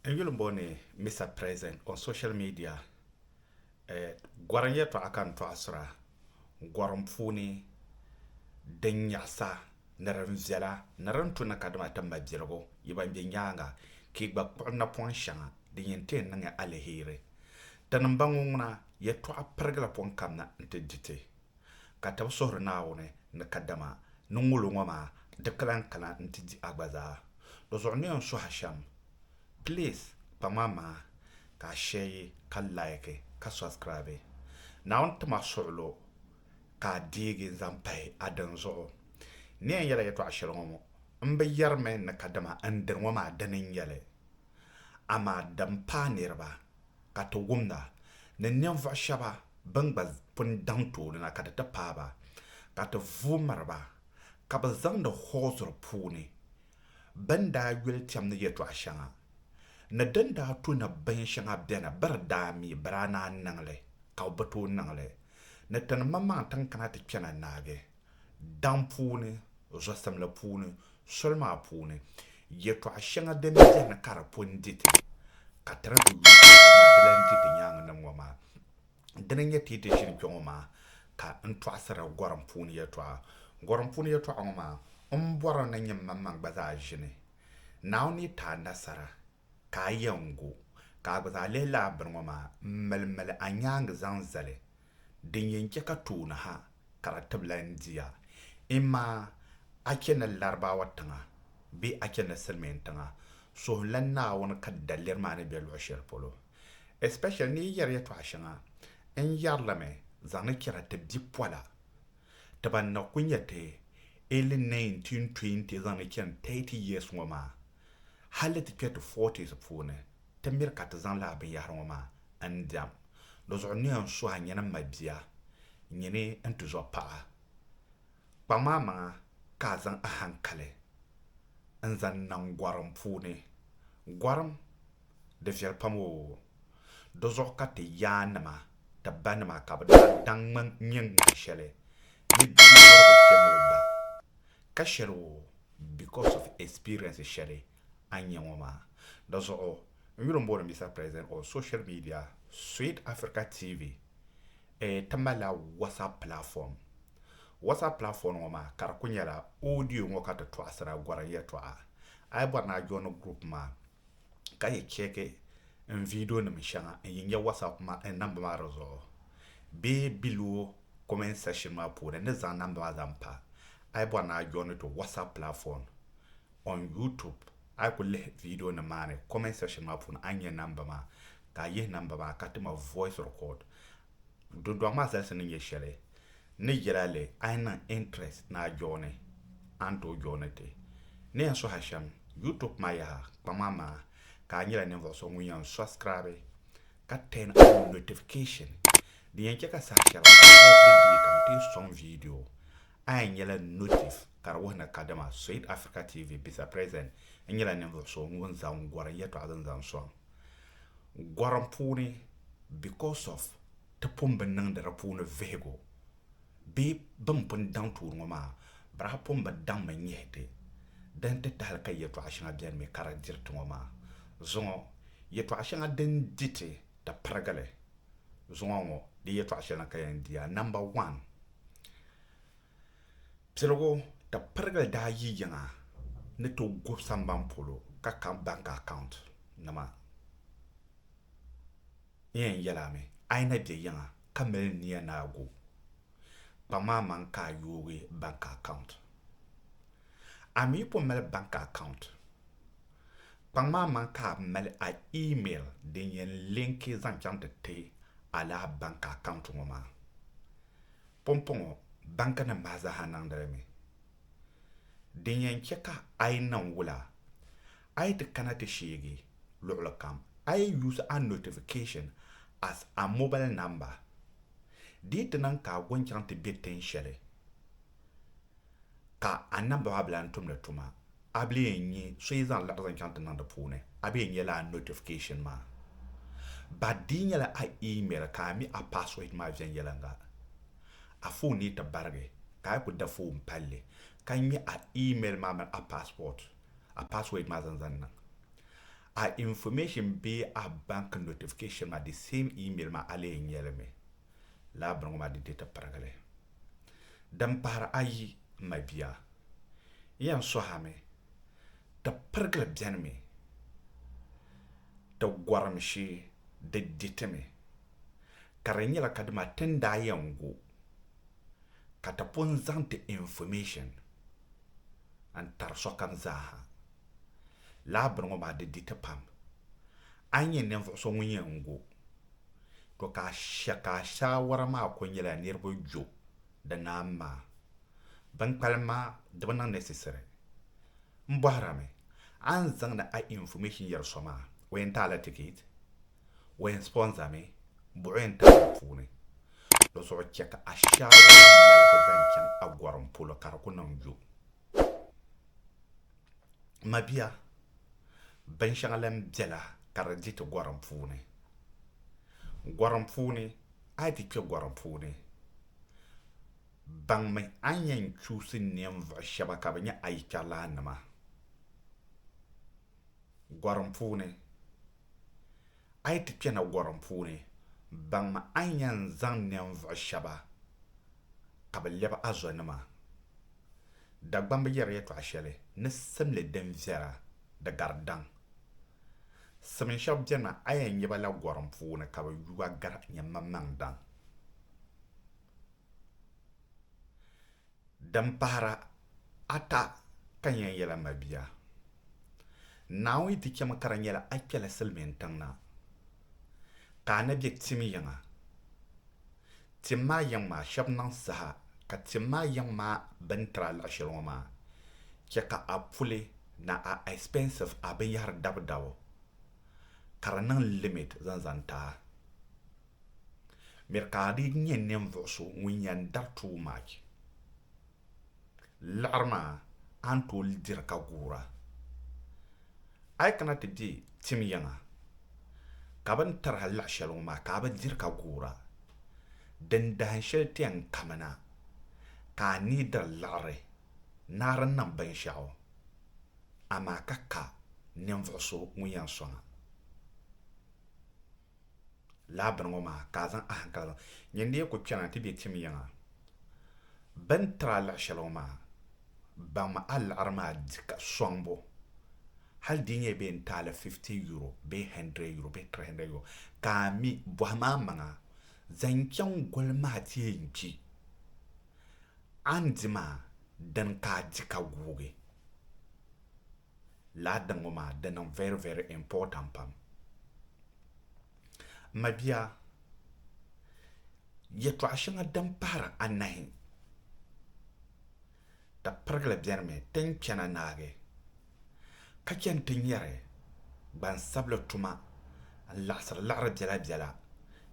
N yuli booni Mister President on social media gɔrim yɛltɔɣa ka n tɔɣisira gɔrim puuni din nyaɣisa ni din viɛla ni din tu ni kadama ti mabiligu yi ban be nyaaŋa ka yi gba kpuɣi napɔŋ shɛŋa din yɛn ti yi niŋ aliheri. Tini m-bɔŋɔ ŋuna yɛltɔɣa pirigila pɔŋ kam na nti di ti. ka ti bi suhiri Naawuni ni kadama ni ŋolo ŋɔ maa di kilan kana nti di a gba zaa. Di zuɣu ni yɛn suhi a shɛm, please kpa ŋman maa ka a shɛyi ka like ka subscribe. Naawuni tim a suɣilo ka a deegi n-zaŋ pahi a dinzuɣu. N ni yɛn yɛla yɛtɔɣa shɛli ŋɔ ŋɔ, m bi yɛrimi ni kadama n dini ŋɔ maa dini n-nyɛli, amaa din paai niriba. ka ti wumda ni ninvuɣ shɛba bɛn gba pun daŋ tooni na ka di ti paai ba, ka ti vuui miri ba, ka bɛ zaŋdi hɔɔzuri puuni bɛn daa yuli cham ni yɛtɔɣ shɛŋa ni din daa tu ni bin shɛŋa beni bɛ di daa mi bɛ daa naan niŋ li, ka bɛ bi tooi niŋ li, ni ti ni maŋmaŋ tiŋ kana ti kpɛna naagi. daŋ puuni, zɔsim la puuni, soli maa puuni, yɛtɔɣ shɛŋa din beni ka di pun di ti, ka ti ni bi yuui ka di maa di lan di ti nyaaŋa nim ŋɔ maa. Dina n-nyɛ ti yi ti ʒini kpɛŋɔ maa ka n tɔɣisiri gɔrim puuni yɛtɔɣa. Gɔrim puuni yɛtɔɣa ŋɔ maa, m bɔri ni nyini manmaŋ gba zaa ʒini Naawuni ni yi ti a nasara. ka a yɛn gu, ka a gba zaa lihi lala bini ŋɔ maa m-mali mali a nyaaŋa zaŋ zali, din yɛn chɛ ka tooni ha ka di tibila n di a. Imaa a chɛ ni Larabawa tiŋa bee a chɛ ni Silimiin tiŋa, suhimla Naawuni ka daliri maa ni be luɣ shɛli polo. Especially ni yi yɛri yɛtɔɣ shɛŋa, n yɛrilimi zaŋdi chɛra ti bipola ti ban na ku nyɛ ti early 1920 zaŋdi chani 30 years ŋɔ maa Hali ti kpe ti forties puuni, ti miri ka ti zaŋ lala binyɛhiri ŋɔ maa n-diɛm. Di zuɣu niya n-suhi a nyini m-mali bia, nyini n-tizɔ paɣa. Kpaŋm a maŋa ka a zaŋ ahaŋkali n-zaŋ niŋ gɔrim puuni. Gɔrim, di viɛli pam oo! Di zuɣu ka ti yaannima, ti banima ka bɛ daa daŋ ŋme n-nyɛ ŋmani shɛli ni bia dɔrigu kpɛm o ba ka shɛri o because of experience shɛli a nya ŋɔ maa. Di zuɣu n yuli m-booni Mister President on social media, Sweet Africa TV eh, ti malila WhatsApp platform. WhatsApp platform ŋɔ maa ka di kuli nyɛla audio ŋɔ ka ti tɔɣisira gɔrim yɛltɔɣa. A yi bɔri ni a joini group maa ka yi chɛki n viidionima shɛŋa n yi nya WhatsApp namba maa di zuɣu bee below comment section maa puuni ni zaŋ namba maa zaŋ pa, a yi bɔri ni a joini to WhatsApp platform on YouTube, a yi ku lihi viidionima maa ni comment section maa puuni a ni nya namba maa ka a yihi namba maa ka ti ma voice record. Dodɔɣu maa zalisi ni nyɛ shɛli ni yɛla li a yi niŋ interest ni a jooni a ni tooi jooni ti. Ni yɛn suhi a shɛm YouTube maa yaha kpaŋ maa maa ka a nyɛla ninvuɣu so ŋun yɛn subscribe ka turn on notification din yɛn chɛ ka saha shɛli kam every day ka m ti sɔŋ video a yɛn nyɛla notif ka di wuhi ni kadama Soyid Africa TV bisa present n nyɛla ninvuɣu so ŋun zaŋ gɔrim yɛtɔɣa din zaŋ sɔŋ gɔrim puuni because of ti pun bi niŋdi di puuni vihigu bee bɛ ni pun daŋ tuuri ŋɔ maa bari a pun bi daŋmi nyihi ti di nti tahili ka yɛtɔɣa shɛŋa beni mi ka di diri ti ŋɔ maa zuŋɔ yɛtɔɣa shɛŋa din di ti di pirigi li zuŋɔ ŋɔ di yɛtɔɣa shɛli ni ka yɛn di a number one Piligu ka pirigili daa yi yiŋa ni ti gubi samban polo ka ka bank account nima n yɛn yɛli a mi a yi na bɛ yiŋa ka mali nia ni a gu kpaŋ maa maŋ ka a yoogi bank account. A mi po mali bank account kpaŋ maa maŋ ka a mali a email din yɛn linki zaŋ chaŋ ti ti a laa bank account ŋɔ maa Pumpɔŋɔ bankinim maa zaaha niŋdi li mi. Din yɛn chɛ ka a yi niŋ wula, a yi ti kana ti sheegi luɣili kam, a yi use a notification as a mobile number. Di yi ti niŋ ka a go n-chaŋ ti be tin shɛli ka a namba maa bi lan tumdi tuma, A bi lee nya so yi zaŋ laɣizi n-chaŋ ti niŋ di puuni, a bee nya lala notification maa. Ba dii nyɛla a email ka a mi a password maa viɛnyɛliŋga. A phone ni yi ti barigi, ka a yi ku da phone palli, ka nya a email maa mini a passport, a password maa zan zaŋ niŋ. A information bee a bank notification maa di same email maa a lee nya li mi. Lala bini ŋɔ maa di di ti pirigili. Din pahiri ayi, m ma bia. yɛn sɔhimi ti pirigili bɛnimi ti gɔrimshi di ditimi, ka di nyɛla ka dima ti ni daa yɛn gu ka ti pun zaŋ ti information n-tari sokam zaaha. Lala bini ŋɔ maa di diti pam. A yi nyɛ ninvuɣu so ŋun yɛn gu, to ka a shɛ ka a shaawara maa kuli nyɛla niriba jo di naam maa. Bɛn kpalim maa di bi niŋ necessary. N bɔhira mi, a ni zaŋdi a information yɛri so maa, o yɛn taala ticket? O yɛn sponsor mi? Buɣi o yɛn taai di puuni? Di zuɣu chɛ ka a shɛrigu maa maligi zaŋ chaŋ a gɔrim polo ka di ku niŋ yo. Mabia, binshɛŋa lan bela ka di di ti gɔrim puuni. Gɔrim puuni. A yi ti kpe gɔrim puuni, baŋmi a ni yɛn chuusi ninvuɣ shɛba ka bɛ nyɛ a yikpɛrilaannima. Gɔrim puuni, A yi ti kpɛna gɔrim puuni, baŋmi a ni yɛn zaŋ ninvuɣ shɛba ka bɛ lɛbi a zonima. Dagbamba yɛri yɛtɔɣ shɛli ni simli din viɛra di gari daŋ. Simin shɛb beni maa, a yɛn nya ba la gɔrim puuni ka bɛ yuga gar nyɛmmaŋmaŋ daŋ. Din pahira ata ka n yɛn yɛl a mabia, Naawuni yi ti chɛmi ka di nyɛla a kpɛla silimiintiŋ na, Ka a ni bɛ tim yiŋa, tim maa yiŋ maa shɛb niŋ saha ka tim maa yiŋ maa bɛ ni tiri a luɣ shɛli ŋɔ maa, chɛ ka a puli na a expensive, a binyɛhiri dabudabu, ka di niŋ limit zaŋ zaŋ ti a. Miri ka a dii nyɛ ninvuɣ so ŋun yɛn dari tuui much. Liɣiri maa a ni tooi diri ka guura. A yi kana ti be tim yiŋa ka bɛ ni tiri a liɣi shɛli ŋɔ maa ka a bi diri ka guura, din dahin shɛli ti yɛn kamina ka a ni diri liɣiri naɣiri niŋ binshɛɣu, amaa ka ka ninvuɣ so ŋun yɛn sɔŋ a. laa bini ŋɔ maa ka a zaŋ a hankali zaŋ nyin di yi ku kpɛna ti be tim yiŋa bɛ ni tiri a liɣi shɛli ŋɔ maa baŋmi a liɣiri maa di ka sɔŋ bo hali di nyɛ bee n-taali fifti yuro bee hɛndrɛd yuro bee tiri hɛndrɛd yuro ka a mi bɔhim a maŋa zaŋ chaŋ goli maa ti yɛn kpi a ni di maa dini ka a di ka guugi. laa din ŋɔ maa di niŋ very very important pam m ma bia yɛtɔɣ shɛŋa din pahiri anahi di pirigili bɛnimi ti ni kpɛna naagi ka chɛ nti nyari gbansabili tuma n-laɣisiri liɣiri biɛla biɛla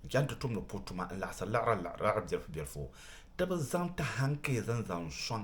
n-chɛ nti tumdi puhi tuma n-laɣisiri liɣiri liɣiri bilifu bilifu ti bi zaŋ ti hankezi n-zaŋ sɔŋ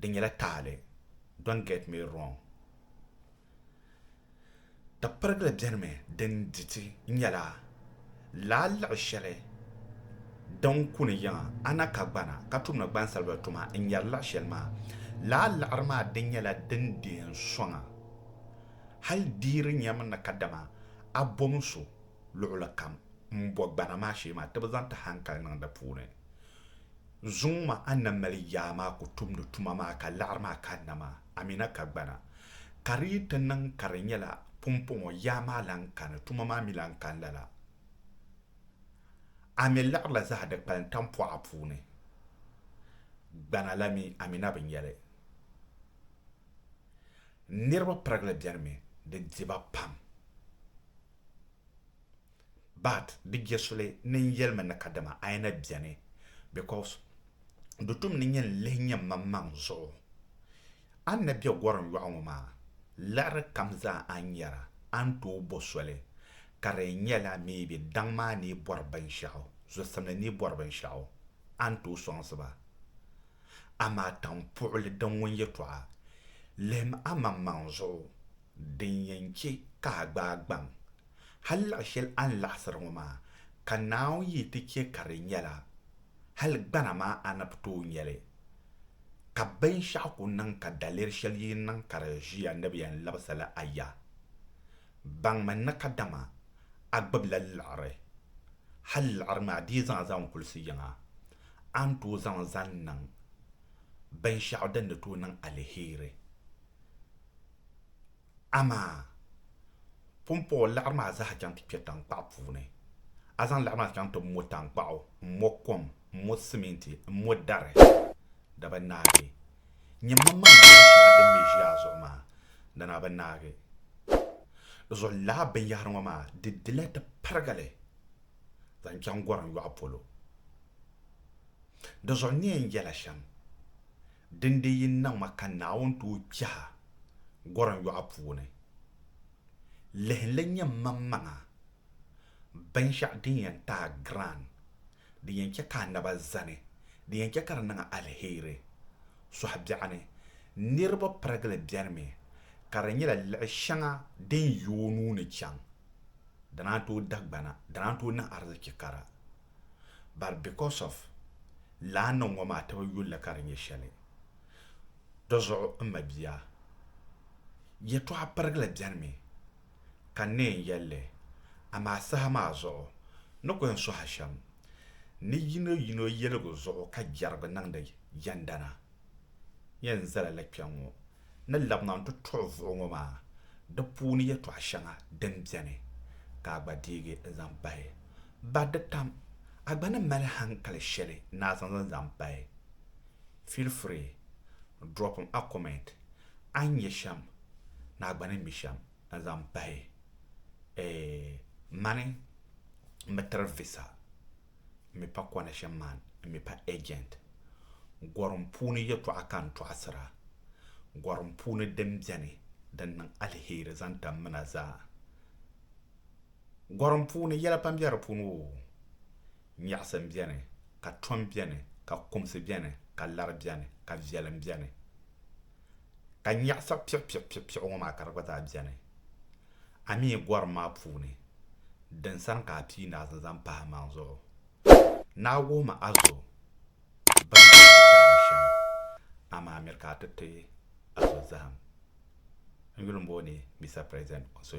di nyɛla taali don't get me wrong tapirigili bɛnimi din diti nyɛla laa liɣi shɛli din kuni yiŋa ana ka gbana ka tumdi gbansabila tuma n nyɛri liɣi shɛli maa laa liɣiri maa di nyɛla din deei soŋa hali deeri nyɛmi ni kadama a bom so luɣuli kam m bo gbana maa shee maa ti bi zaŋ ti hankali niŋ di puuni Zuŋ ma a na mali yaa maa ku tumdi tuma maa ka laɣiri maa kanna maa, Amina ka gbana. Ka di yi ti niŋ ka di nyɛla pumpɔŋɔ yaa maa lan kani, tuma maa mi lan kan lala. A mi laɣirila zahi di kpalim tampɔɣa puuni. Gbana la mi, Amina bi nya li. Niriba pirigili beni mi, di di ba pam. But di jesuli ni n yelimi ni kadama ayi na beni because di tum ni nyɛ n lihi nyɛ mmaŋmaŋ zuɣu. A ni na be gorim yɔɣu ŋɔ maa liɣiri kam zaa a ni nyara a ni tooi bo soli ka di yɛn nyɛla maybe daŋ maa ni yi bɔri binshɛɣu, zosimli ni yi bɔri binshɛɣu a ni tooi sɔŋsi ba. Amaa tampuɣili din ŋun yɛtɔɣa lihim a maŋmaŋ zuɣu din yɛn che ka a gbaai gbaŋ Hal laɣ shɛli a ni laɣisiri ŋɔ maa, ka Naawuni yi ti chɛ ka di nya la, hal gbana maa a ni bi tooi nya li. Ka binshɛɣu ku niŋ ka daliri shɛli yi niŋ ka di ʒiya ni bɛ yɛn labisi li a ya. Baŋmi ni kadama a gbibila liɣiri, hal liɣiri maa di yi zaŋ a zaŋ kulisi yiŋa, a ni tooi zaŋ li zaŋ niŋ binshɛɣu din ni tooi niŋ aliheri. Amaa pumpɔɣu laɣiri maa zaa chaŋ ti kpe taŋkpaɣu puuni. A zaŋ laɣiri maa chaŋ ti mo taŋkpaɣu, m-mo kom, m-mo siminti, m-mo dari. Daba naagi! Nyɛ mam maa ni be shɛŋa din me ʒi a zuɣu maa, dana a bi naagi. Di zuɣu lala binyɛhiri ŋɔ maa, di dila ti parigi li zaŋ chaŋ gɔrim yɔɣu polo. Di zuɣu n ni yɛn yɛla shɛm. Dindee yi niŋ ma ka Naawuni tooi kpɛh a gɔrim yɔɣu puuni, lihi n-lee nyɛ mmaŋmaŋa binshɛɣu din yɛn ti a giran, din yɛn chɛ ka a naba zani, din yɛn chɛ ka di niŋ a aliheri. Sɔhi biɛɣu ni niriba pirigili bɛnimi ka di nyɛla liɣi shɛŋa din yi o nuu ni chaŋ, di naan tooi dagbana, di naan tooi niŋ arizichi kara. but because of laa niŋ ŋɔ maa tibi yulli ka di nyɛ shɛli. Di zuɣu m mabia, yɛltɔɣa pirigili bɛnimi ka n ni yɛn yɛli li, amaa saha maa zuɣu ni ku yɛn sɔhi shɛm ni yino yino yɛligu zuɣu ka jɛrigu niŋdi yɛndana. Yɛn zala li kpɛŋŋɔ. ni labina n-ti tuɣi vuɣu ŋɔ maa, di puuni yɛtɔɣ shɛŋa din beni ka a gba deegi n-zaŋ pahi. Ba di tam, a gba ni mali hankali shɛli ni a zaŋ zaŋ zaŋ pahi. Feel free, drop a comment, a ni nya shɛm ni a gba ni mi shɛm n-zaŋ pahi. Eeh, mani m-bi tiri visa. n mi pa connection man n mi pa agent gorim puuni yɛtɔɣa ka n tɔɣisira gorim puuni din beni din niŋ aliheri zaŋ tam mina zaa gorim puuni yɛla pam be di puuni o nyaɣisim beni ka tom beni ka kumsi beni ka lari beni ka viɛlim beni ka nyaɣisa piɣipiɣipiɣipiɣi ŋɔ maa ka di gba zaa beni. A mi yi gɔrim maa puuni, din sani ka a pii ni a zaŋ zaŋ pahi maŋ zuɣu, ni a wuhimi a zo bɛn daa ti zahim shɛm, amaa miri ka a ti ti a zo zahim. N yuli m-booni Mister President on social.